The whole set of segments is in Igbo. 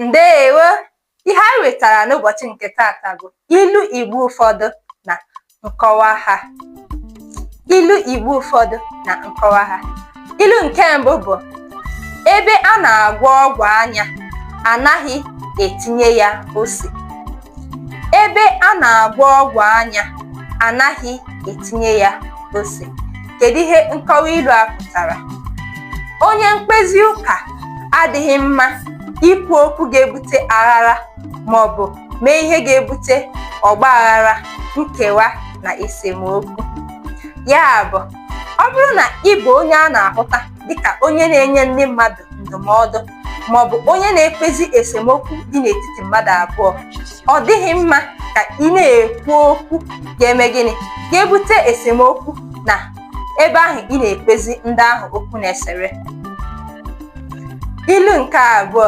ndeewo ihe anyị wetara n'ụbọchị nke tata bụ ilu igbo ụfọdụ na nkọwa ha ilu igbo ụfọdụ na nkọwa ha ilu nke mbụ bụ ebe a na-agwọ ọgwụ anya anaghị etinye ya ose ebe a na-agwọ ọgwụ anya anaghị etinye ya ose kedu ihe nkọwa ilu a pụtara onye mkpezi ụka adịghị mma ikwu okwu ga-ebute aghara ma ọ bụ mee ihe ga-ebute ọgba aghara nkewa na esemokwu ya bụ ọ bụrụ na ị bụ onye a na-ahụta dịka onye na-enye ndị mmadụ ndụmọdụ ma ọ bụ onye na-ekpezi esemokwu dị n'etiti mmadụ abụọ ọ dịghị mma ka ị na-ekwu okwu ga-eme gịnị ga-ebute esemokwu na ebe ahụ ị na-ekpezi ndị ahụ okwu na-esere ilu nke abụọ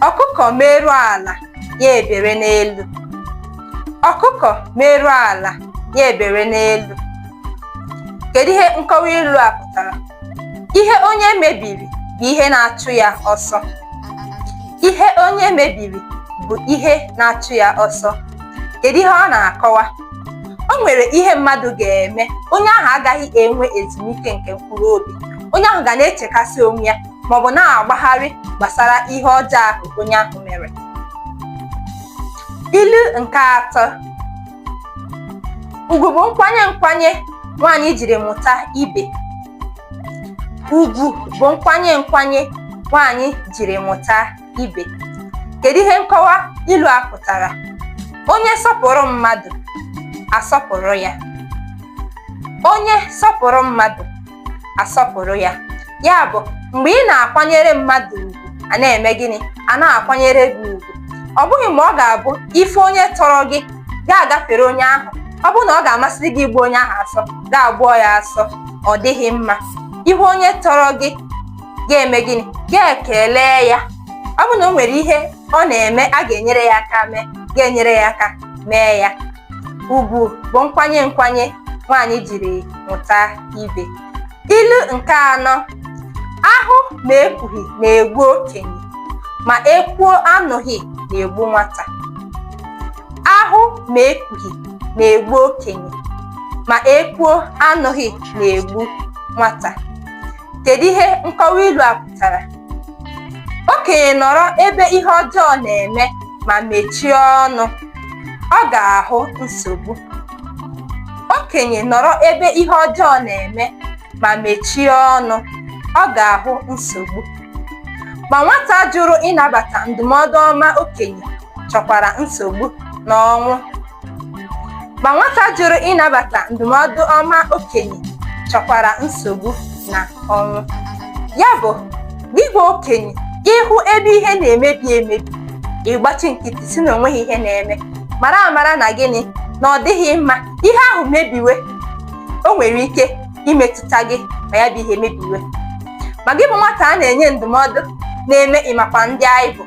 ọkụkọ merụọ ala ya ebere n'elu ọkụkọ merụọ ala ya ebere n'elu kedu ihe nkọwa ilu a pụtara ihe onye mebiri bụ ihe na-achụ ya ọsọ ihe onye mebiri bụ ihe na-achụ ya ọsọ kedu ihe ọ na-akọwa o nwere ihe mmadụ ga-eme onye ahụ agaghị enwe ezumike nke mkpụrụ obi onye ahụ ga na-echekasị onwe ya maọbụ na-agbagharị gbasara ihe ọjọọ ahụ onye ahụ mere ilu nke atọ ugwu bụ nkwanye nkwanye nwaanyị jiri mụta ibe ugwu bụ nkwanye nkwanye nwaanyị jiri mụta ibe kedu ihe nkọwa ilu a pụtara onye sọpụrụ mmadụ a sọpụrụ ya onye sọpụrụ mmadụ a sọpụrụ ya ya bụ mgbe ị na-akwanyere mmadụ ugwu a na-eme gịnị a na-akwanyere gị ugwu ọ bụghị mgbe ọ ga-abụ ị fụ onye tọrọ gị gị agafere onye ahụ ọ bụrụ na ọ ga-amasị gị ịgbụ onye ahụ asọ gị agbụọ ya asọ ọ dịghị mma ị hụ onye tọrọ gị ga-eme gịnị ga-ekele ya ọ bụrụ na o nwere ihe ọ na-eme a ga-enyere ya aka mee ga-enyere ya aka mee ya ugwu bụ nkwanye nkwanye nwaanyị jiri mụta ibe ilu nke anọ ahụ ma ekwughị na-egbu okenye ma ekwuo anụghị na-egbu nwata ahụ ma ekwughị na-egbu okenye ma ekwuo anụghị na-egbu nwata Kedu ihe nkọwa ilu a pụtara? Okenye nọrọ ebe ihe ọjọọ na-eme ma mechie ọnụ, ọ ga-ahụ nsogbu. Okenye nọrọ ebe ihe ọjọọ na-eme ma mechie ọnụ, ọ ga-ahụ nsogbu. Ma nwata jụrụ ịnabata ndụmọdụ ọma okenye chọkwara nsogbu na ọnwụ. ma nwata jụrụ ịnabata ndụmọdụ ọma okenye chọkwara nsogbu na ọnwụ ya bụ gị bụ okenye ị hụ ebe ihe na-emebi emebi ị gbachi nkịtị sị na o nweghị ihe na-eme mara amara na gịnị na ọ dịghị mma ihe ahụ mebiwe o nwere ike imetụta gị ma ya bụ ihe mebiwe ma gị bụ nwata a na-enye ndụmọdụ na-eme ị makwa ndị anyị bụ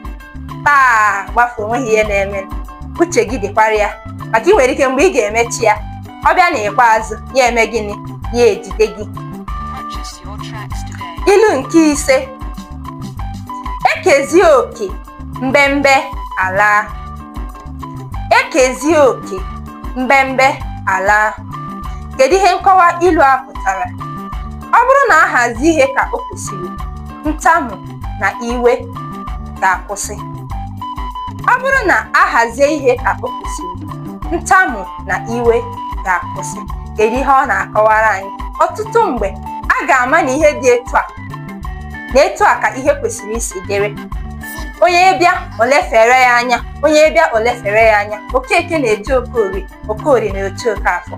taa gbafuo o nweghị ihe na-eme uche gị dịkwara ya maka ị nwere ike mgbe ị ga-emecha ya ọ bịa na ikpeazụ ya eme gịnị ya ejide gị ilu nke ise e kezie oke mbembe ala e kezie oke mbembe ala kedu ihe nkọwa ilu a pụtara ọ bụrụ na a hazie ihe ka o kwesịrị ntamu na iwe ga-akwụsị ọ bụrụ na a hazie ihe ka o kwesịrị ntamu na iwe ga-akwụsị kedu ihe ọ na-akọwara anyị ọtụtụ mgbe a ga-ama na ihe dị etu a na etu a ka ihe kwesịrị isi dịrị onye bịa o lefere ya anya onye bịa o lefere ya anya okeke na-eche okorie Okorie na-eche Okafọ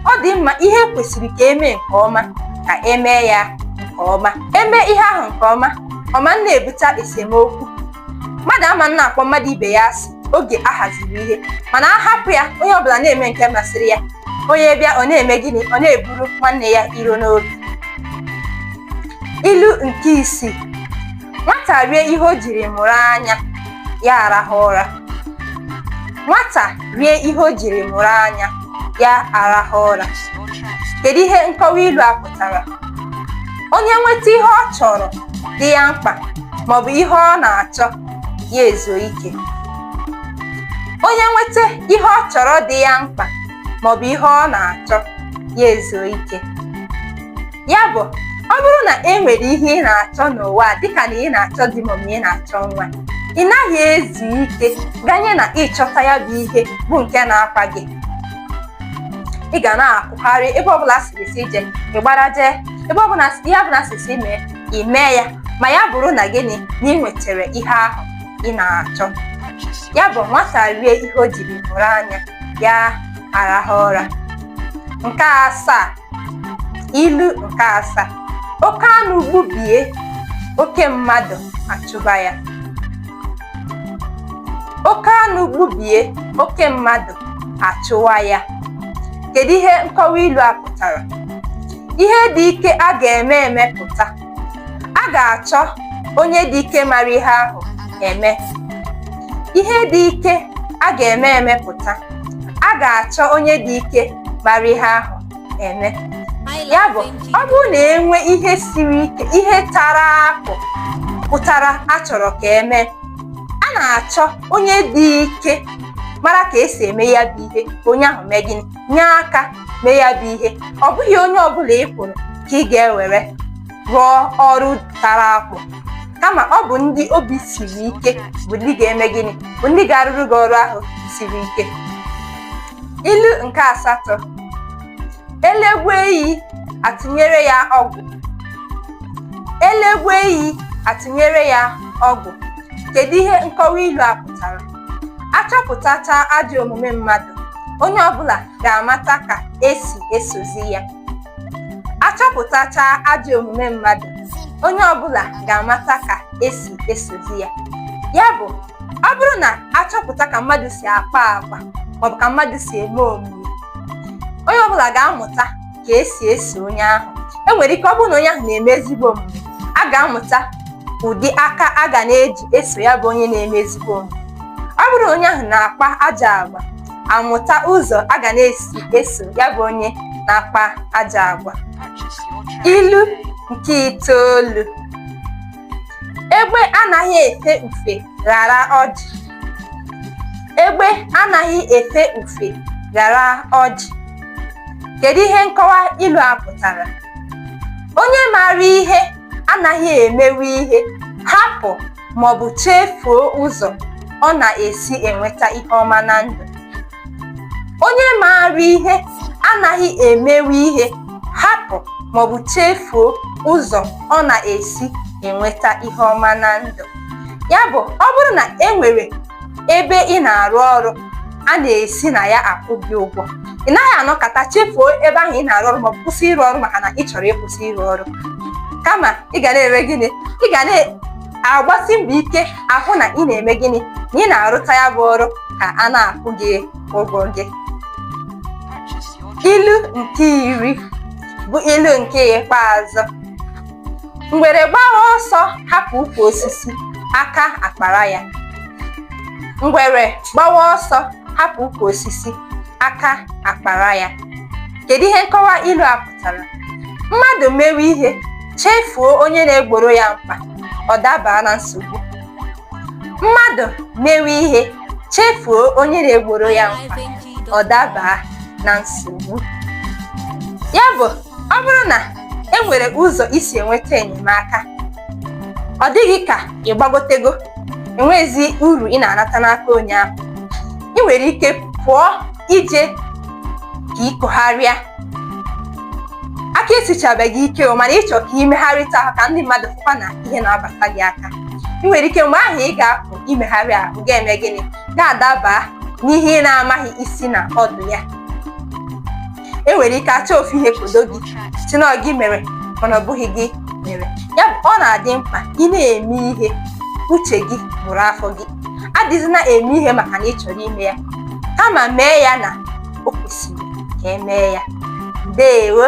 ọ dị mma ihe kwesịrị ka e mee nke ọma ka e mee ya nke ọma e mee ihe ahụ nke ọma ọ ma na-ebute esemokwu mmadụ ama na-akpọ mmadụ ibe ya asị oge a haziri ihe mana a hapụ ya onye ọbụla na-eme nke masịrị ya onye bịa ọ na-eme gịnị ọ na-eburu nwanne ya iro n'obi ilu nke isii nwata rie ihe o jiri mụrụ anya ya arahụ ụra nwata rie ihe o jiri mụrụ anya ya arahụ ụra kedu ihe nkọwa ilu a pụtara onye nweta ihe ọ chọrọ dị ya mkpa maọbụ ihe ọ na-achọ ya ezuo ike onye nweta ihe ọ chọrọ dị ya mkpa maọbụ ihe ọ na-achọ ya ezuo ike ya bụ ọ bụrụ na e nwere ihe ị na-achọ n'ụwa dịka na ị na-achọ di ma ị na-achọ nwa ị naghị ezu ike ganye na ị chọta ya bụ ihe bụ nke na-akpa gị ị ga na-akwụgharị ebe ọbụla a sịrị sị jee ị gbara jee ebe ọbụla ihe ọbụla a sị sị mee ị mee ya ma ya bụrụ na gịnị na ị nwetara ihe ahụ ị na-achọ ya bụ nwata rie ihe o jiri mụrụ anya ya arahụ ụra nke asaa ilu nke asaa oke anụ gbubie oke mmadụ achụwa ya oke anụ gbubie oke mmadụ achụwa ya kedu ihe nkọwa ilu a pụtara ihe dị ike a ga-eme emepụta a ga-achọ onye dị ike mara ihe ahụ eme ihe dị ike a ga-eme emepụta a ga-achọ onye dị ike mara ihe ahụ eme ya bụ ọ bụrụ na enwe ihe siri ike ihe tara akpụ pụtara achọrọ ka emee a na-achọ onye dị ike mara ka esi eme ya bụ ihe ka onye ahụ mee gịnị nye aka mee ya bụ ihe ọ bụghị onye ọbụla ị hụrụ ka ị ga-ewere rụọ ọrụ tara akpụ kama ọ bụ ndị obi siri ike bụ ndị ga-eme gịnị bụ ndị ga-arụrụ gị ọrụ ahụ siri ike ilu nke asatọ elegwe eyi atụnyere ya ọgwụ elegwe eyi atụnyere ya ọgwụ kedu ihe nkọwa ilu a pụtara achọpụtacha ajọ omume mmadụ onye ọbụla ga-amata ka esi esozi ya achọpụtacha ajọ omume mmadụ onye ọbụla ga-amata ka esi esozi ya ya bụ ọ bụrụ na achọpụta ka mmadụ si akpa agwa maọbụ ka mmadụ si eme omume onye ọbụla ga-amụta ka esi eso onye ahụ enwere ike ọ bụrụ na onye ahụ na-eme ezigbo omume a ga-amụta ụdị aka a ga na-eji eso ya bụ onye na-eme ezigbo omume ọ bụrụ na onye ahụ na-akpa ajọ agwa amụta ụzọ a ga na-esi eso ya bụ onye na-akpa ajọ agwa ilu nke itoolu egbe anaghị efe ufe ghara ọjị egbe anaghị efe ufe ghara ọjị kedu ihe nkọwa ilu a pụtara onye maara ihe anaghị emewe ihe hapụ maọbụ chefuo ụzọ ọ na-esi enweta ihe ọma na ndụ onye maara ihe anaghị emewe ihe hapụ maọbụ chefuo ụzọ ọ na-esi enweta ihe ọma na ndụ ya bụ ọ bụrụ na e nwere ebe ị na-arụ ọrụ a na-esi na ya akwụ gị ụgwọ ị naghị anọkata chefuo ebe ahụ ị na-arụ ọrụ maọbụ kwụsị ịrụ ọrụ maka na ị chọrọ ịkwụsị ịrụ ọrụ kama ị ga na-eme gịnị ị ga na agbasi mbọ ike ahụ na ị na-eme gịnị na ị na-arụta ya bụ ọrụ ka a na-akwụ gị ụgwọ gị ilu nke iri bụ ilu nke ikpeazụ ngwere gbawa ọsọ hapụ ukwu osisi aka akpara ya ngwere gbawa ọsọ hapụ ukwu osisi aka akpara ya kedu ihe nkọwa ilu a pụtara mmadụ mewe ihe chefuo onye na-egboro ya mkpa ọ dabaa na nsogbu mmadụ mewe ihe chefuo onye na-egboro ya mkpa ọ dabaa na nsogbu ya bụ ọ bụrụ na e nwere ụzọ i si enweta enyemaka ọ dị gị ka ị gbagotego enweghịzi uru ị na-anata n'aka onye ahụ ị nwere ike pụọ ije ka i kogharịa aka esichabeghị ike o mana ị chọ ka i megharịta ahụ ka ndị mmadụ fụkwa na ihe na-abata gị aka ị nwere ike mgbe ahụ ị ga-apụ imegharị ahụ ga-eme gịnị ga-adaba n'ihe ị na-amaghị isi na ọdụ ya e nwere ike achọ ofu ihe kodo gị sị na gị mere mana ọ bụghị gị mere ya bụ ọ na-adị mkpa ị na-eme ihe uche gị bụrụ afọ gị adịzịna eme ihe maka na ị chọrọ ime ya kama mee ya na o kwesịrị ka e mee ya ndewo